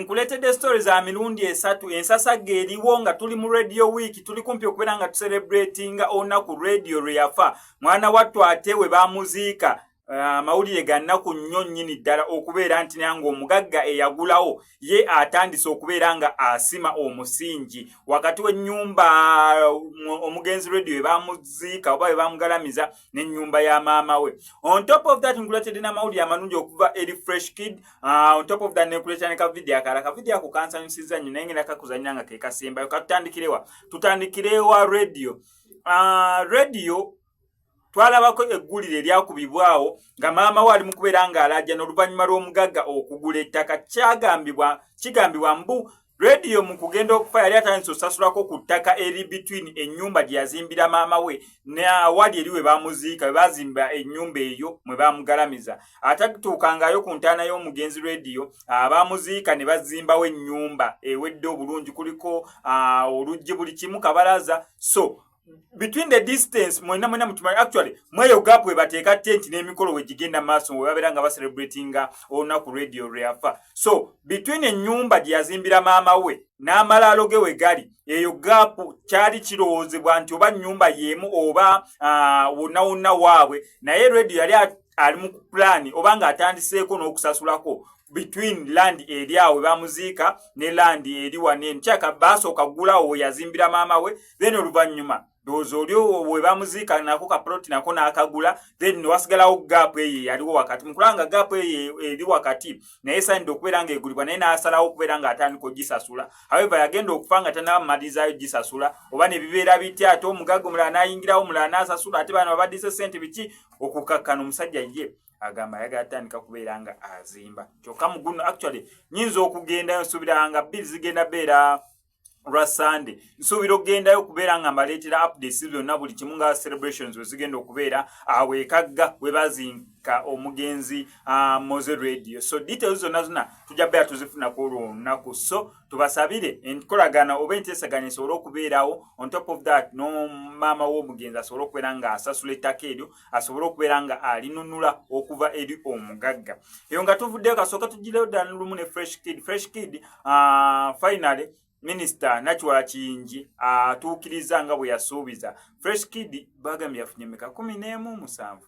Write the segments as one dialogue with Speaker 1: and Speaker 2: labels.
Speaker 1: nkuleetedde story za mirundi esatu ensasagga eriwo nga tuli mu radio week tuli kumpi okubeera nga tuserebratinga olunaku radio lwe yafa mwana wattu ate we bamuziika eh, amawulire ga nnaku nnyo nnyini ddala okubeera nti naye ng'omugagga eyagulawo ye atandise okubeera nga asima omusingi wakati w'ennyumba eh, omugenzi radio ebamuziika oba ebamugalamiza n'ennyumba ya maama we on top of that nkuletedde n'amawulire amalungi okuva eri fresh kid ah, on top of that nekuletera ne kavidiyo akala kavidiyo ako kansanyusiza nnyo naye ngenda kakuzannya nga kekasembayo katutandikirewa tutandikirewa radio ah, radio twalabako eggulire eryakubibwawo nga maama we ali mu kubeera ng'alajja n'oluvannyuma lw'omugagga okugula ettaka kyagambibwa kigambibwa mbu rediyo mu kugenda okufa yali atandise osasulako ku ttaka eri between ennyumba gye yazimbira maama we neawali eri we bamuziika we bazimba ennyumba eyo mwe bamugalamiza atatuukangayo ku ntaana y'omugenzi rediyo abamuziika ne bazimbawo ennyumba ewedde obulungi kuliko oluggi buli kimu kabalaza so between the distance mwena mwena mutumali actually mweyo gap we bateka tent ne mikolo we jigenda maso we babera nga ba celebrating ona ku radio reafa so between enyumba di azimbira mama we na malalo ge we gali eyo gap chali chiroze bwanti oba nyumba yemu oba uh, una una wawe na ye radio yali ali mu pulaani oba ng'atandiseeko n'okusasulako between land eri awo bamuziika ne land eri wanene kyaka basooka gulawo weyazimbira maama we then oluvannyuma ndowooza oli we bamuziika nako kaploti nako n'akagula then newasigalawo gaapu eyo eyaliwo wakati mukulaba nga gaapu eyo eri wakati naye esaanidde okubeera nga egulibwa naye n'asalawo okubeera nga atandika ogisasula however yagenda okufa nga tanabamalirizayo gisasula oba ne bibeera bitya ate omugagga omulala n'ayingirawo omulala n'asasula ate bano babaddize ssente biki okukakkana omusajja ye agamba ayagala tandika kubeera nga azimba kyokka muguno actually nyinza okugendayo nsuubira nga bbiri zigenda beera lwa sande nsuubira okugendayo okubeera nga mbaleetera updates byonna buli kimu nga celebrations wezigenda okubeera awo ekagga webazinka omugenzi ah, mose radio so details zonna zonna tujja beera tuzifunaku olwo olunaku so tubasabire enkolagana oba enteesaganya esobole okubeerawo on top of that nomaama w'omugenzi asobole okubeera nga asasula ettaka eryo asobole okubeera nga alinunula okuva eri omugagga eyo nga tuvuddeyo kasooka tugireyo ddala lumu ne fresh kid fresh kid uh, finally minisita nakiwala kiyingi atuukiriza nga bwe yasuubiza fresh kid bagambye yafunye meka kumi n'emu musanvu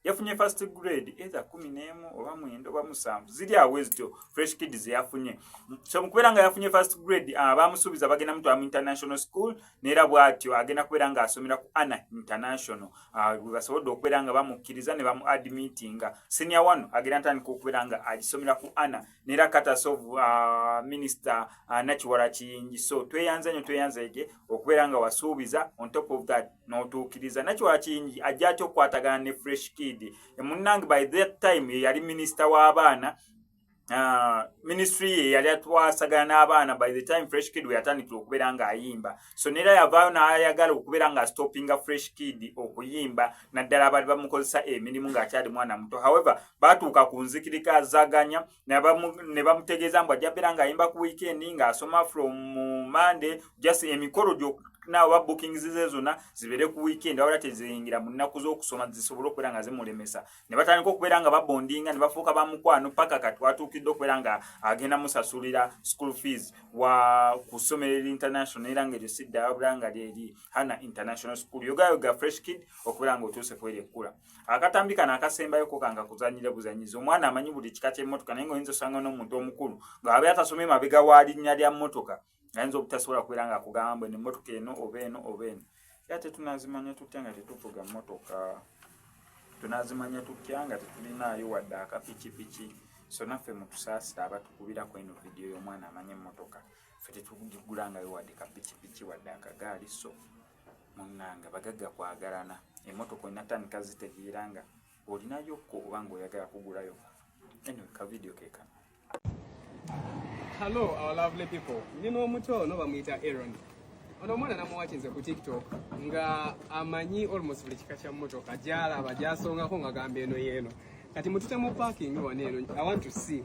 Speaker 1: yafunye first grade either kumi n'emu oba mwenda oba musanvu ziri awo ezityo fresh kid zeyafunye so mukubeera nga yafunye first grade ah, bamusuubiza bagenda mutwala mu international school neera bwatyo agenda kubeera nga asomera ku ana international ah, webasobodde okubeera nga bamukkiriza ne bamu admitinga senior wano agenda ntandika okubeera nga agisomera ku ana nera katas of uh, minister uh, nakiwala kiyingi so tweyanza nyo tweyanza ege okubeera nga wasuubiza on top of that notuukiriza nakiwala kiyingi ajja atya okukwatagana ne fresh kid emunnange by that time yeyali minister w'abaana uh, ministry ye yali atwasagana n'abaana by the time fresh kid weyatandikira okubeera ng'ayimba so nera yavaayo nayagala okubeera nga stoppinga fresh kid okuyimba naddala abali bamukozesa emirimu ngaakyali mwana muto however batuuka ku nzikirika zaganya ne bamutegeeza mbu ajja beera ngaayimba ku weekend ngaasoma from monday just emikolo gyoku nawa bookings ze zona zibere ku weekend awala tezeyingira mu nnaku z'okusoma zisobole okubeera nga zimulemesa ne batandika okubeera nga babondinga ne bafuuka ba mukwano paka kati watuukidde okubeera nga agenda musasulira school fees wa ku ssomero eri international era nga eryo siddayo bula nga lyeri hana international school yogayoga fresh kid okubeera nga otuuse kweri ekkula akatambi kano akasembayo ko kanga kuzanyire buzanyiza omwana amanyi buli kika ky'emmotoka naye nga oyinza osanga n'omuntu omukulu ng'abe atasomye mabega wa linnya lya mmotoka ayinza obutasobola kubeera nga akugamba mbu emmotoka eno oba eno oba eno era tetunazimanya tutya nga tetuvuga mmotoka tunazimanya tutya nga tetulinaayo wadde akapikipiki so naffe mutusaasira abatukubirako eno vidiyo y'omwana amanya emmotoka fe tetugigulangayo wadde kapikipiki wadde akagaali so munanga bagagga kwagalana emmotoka enatandika zitegeera nga olinayo ko oba nga oyagala kugulayo anyway ka video kekano hello
Speaker 2: our lovely people ndi n'omuto ono bamuyita aron ono omwana namuwakinze ku tiktok nga amanyi almost buli kika kya mmotoka gyalaba gyasongako nga gamba eno yeeno kati mutute mu parking wano eno i want to see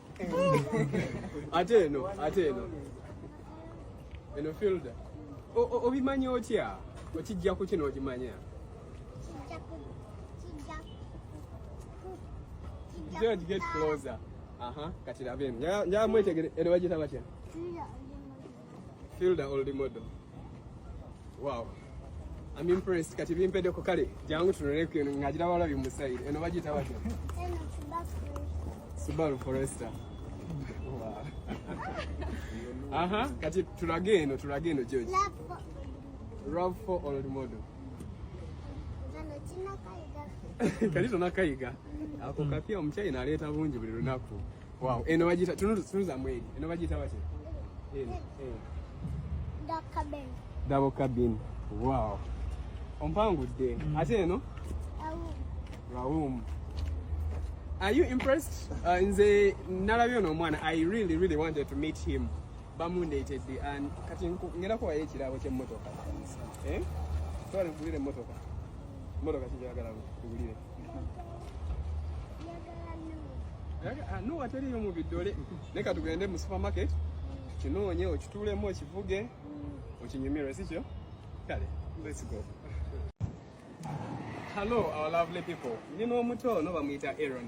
Speaker 2: ate eno ate eno eno filda obimanyi otya okijja ku kino okimanya George get closer. Aha, uh -huh. katirabe. Njaa mwetegere ero wajita batya? Feel the old model. Wow. I'm impressed. Kati bimpede ko kale. Jangu tunone ku ngajira wala bi musaid. Eno bajita batya? Eno Subaru. Subaru Forester. Wow. Aha, kati tulage eno, tulage eno George. Love for old model. Kano kinakayiga. Kati tunakayiga. Ako kapya omukyayina aleeta bungi buli lunaku. Wow, eno bagiyita tunuza mweri. Eno bagiyita batya? Eno. Eh. Double cabin. Double cabin. Wow. Ompangudde. Mm. Ate eno? Raum. Are you impressed? Uh, nze nalabye ono omwana I really really wanted to meet him. Bamundeetedde and kati ngenda kuwayo ekirabo ky'emmotoka. Eh? Twala nkugulire emmotoka. Emmotoka kijagala nkugulire. Ah, nuwa teriyo mu bidole leka tugende mu supermarket kinoonye okituulemu okivuge okinyumirwe sikyo kale let's go hello our lovely people ndi n'omuto no bamuyita aron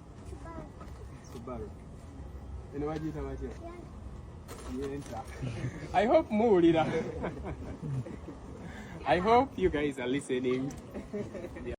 Speaker 2: Subaru. Eno bagiyita batya? Yenta. I hope muwulira. I hope you guys are listening.